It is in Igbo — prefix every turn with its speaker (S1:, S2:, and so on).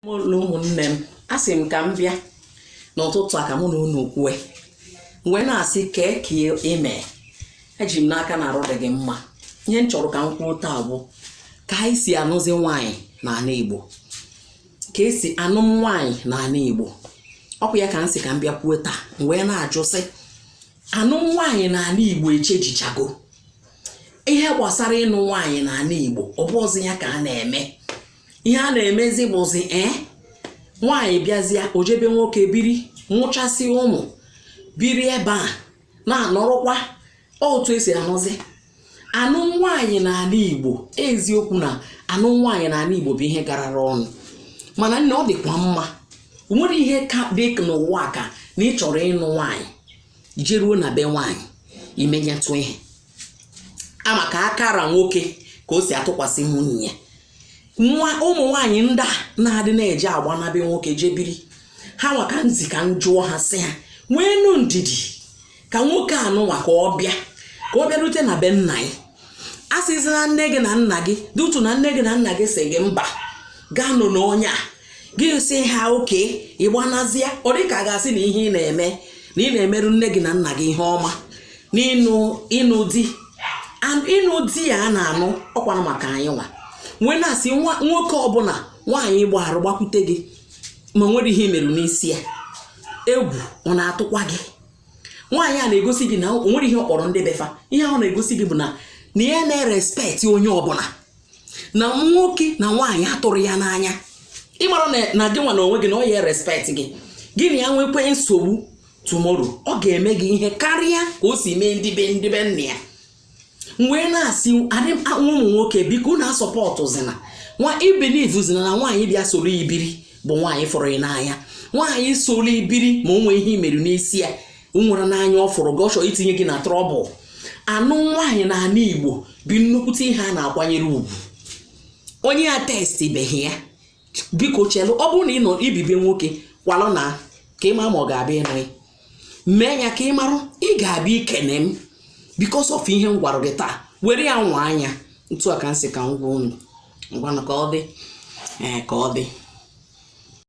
S1: ụlọ ụmụnne m asị m ka m bịa n'ụtụtụ a ka mụ na unu kwue wee na-asị kee ka ime eji m n'aka na arụ dị gị mma ihe m chọrọ ka m kwuo taa bụ ka anyị si anụzi nwaanyị n'ana Igbo ka e si anụ nwaanyị n'ana Igbo ọ bụ ya ka m sị ka m bịa kwuo taa m wee na-ajụ sị anụm nwaanyị n'ana Igbo echenjichago ihe gbasara ịnụ nwaanyị n'ana Igbo ọ bụrọzi ya ka a na-eme ihe a na-emezi bụzi ee eh, nwaanyị bịazịa o je be nwoke biri mụchasị ụmụ biri ebe a na-anụrọkwa otu e si anụzi anụ nwaanyị n'ana Igbo eziokwu na anụ nwaanyị n'ana Igbo bụ ihe garara ọnụ mana nne ọ dịkwa mma o nwere ihe ka dị n'ụwa ka na ị chọrọ ịnụ nwaanyị jeruo na be nwaanyị i menyetụ ihe a ma ka aka ra nwoke ka o si atụkwasị nwunye ya nwa ụmụ nwaanyị ndị a na-adị na-eji agbana be nwoke je biri ha nwa ka m sị ka m jụọ ha sị ha nweenụ ndidi ka nwoke anụnwa ka ọ bịa ka ọ bịarute na be nna gị a sịzi na nne gị na nna gị dị utu na nne gị na nna gị sị gị mba gị anụna onye a gị sị ha okay ị gbanazịa ọ dị ka a ga-asị na ihe ị na-eme na ị na-emerụ nne gị na nna gị ihe ọma n'ịnụ ịnụ di ịnụ di a a na-anụ ọkwanụ maka anyị nwa m wee na-asị nwoke ọbụla nwaanyị gbarụ gbakwute gị ma o nwerọ ihe i merụ n'isi ya egwu ọ na-atụkwa gị nwaanyị a na-egosi gị na o nwerọ ihe ọ kpọrọ ndị be fa ihe ahụ na-egosi gị bụ na na ya na-erespect onye ọbụla na nwoke na nwaanyị atụrọ ya n'anya ị marọ na gị nwa n'onwe gị na ọ ya respect gị gị na ya nwekwee nsogbu tomorrow ọ ga-eme gị ihe karịa ka o si mee ndị be ndị be nna ya wee na-asị ụmụ nwoke biko unu asupportzina nwa ebelievezina na nwaanyị bịa soro gị biri bụ nwaanyị fụrụ gị n'anya nwaanyị soro gị biri ma o nwerọ ihe i merụ n'isi ya o nwerọ n'anya ọ fụrụ gị ọ chọrọ itinye gị na trouble anụ nwaanyị n'ana Igbo bụ nnukwute ihe a na-akwanyere ugwu onye atestibeghị ya biko chelụ ọ bụrụ na i bi be nwoke kwalụ naa ka ị ma ma ọ ga-abịa ịnụ gị mee ya ka ị marụ ị ga-abịa ikene m because of ihe m gwara gị taa were ya nwa anya otu a ka m sị ka m gwa unu ngwanụ ka ọ dị ee ka ọ dị